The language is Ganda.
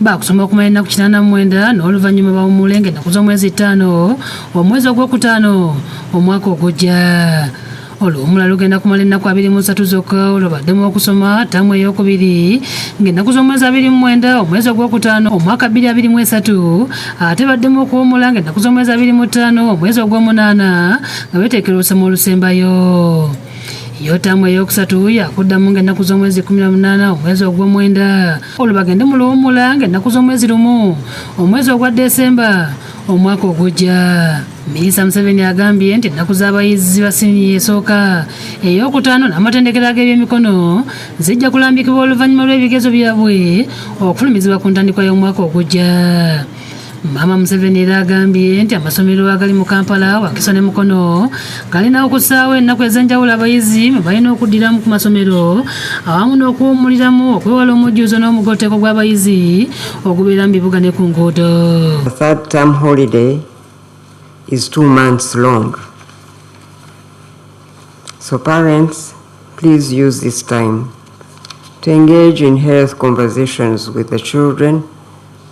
baakusoma okumala ennaku kinaana mu mwenda n'oluvannyuma bawummule ng'ennaku z'omwezi ttaano omwezi ogwokutaano omwaka ogujja oluwumula lugenda kumala ennaku abiri mu ssatu zokka olwo baddemu okusoma ttaamu eyokubiri ng'ennaku z'omwezi abiri mu mwenda omwezi ogwokutaano omwaka bbiri abiri mu esatu ate baddemu okuwumula ng'ennaku z'omwezi abiri mu ttaano omwezi ogw'omunaana nga beteekera olusoma olusembayo yotamu eyokusatu yakuddamu ng'ennaku z'omwezi 18 omwezi ogw'omwenda olwo bagende mu luwummula ng'ennaku z'omwezi lumu omwezi ogwa desemba omwaka ogujja minisita museveni agambye nti ennaku z'abayizi ba siniya esooka ey'okutaano n'amatendekero ag'ebyemikono zijja kulambikibwa oluvannyuma lw'ebigezo byabwe okufulumizibwa ku ntandikwa y'omwaka ogujja Maama Museveni era agambye nti amasomero agali mu Kampala, Wakiso ne Mukono galina okusaawo ennaku ez'enjawulo abayizi mwe balina okuddiramu ku masomero awamu n'okuwummuliramu okwewala omujjuzo n'omugotteko gw'abayizi ogubeera mu bibuga ne ku nguudo. So parents, please use this time to engage in health conversations with the children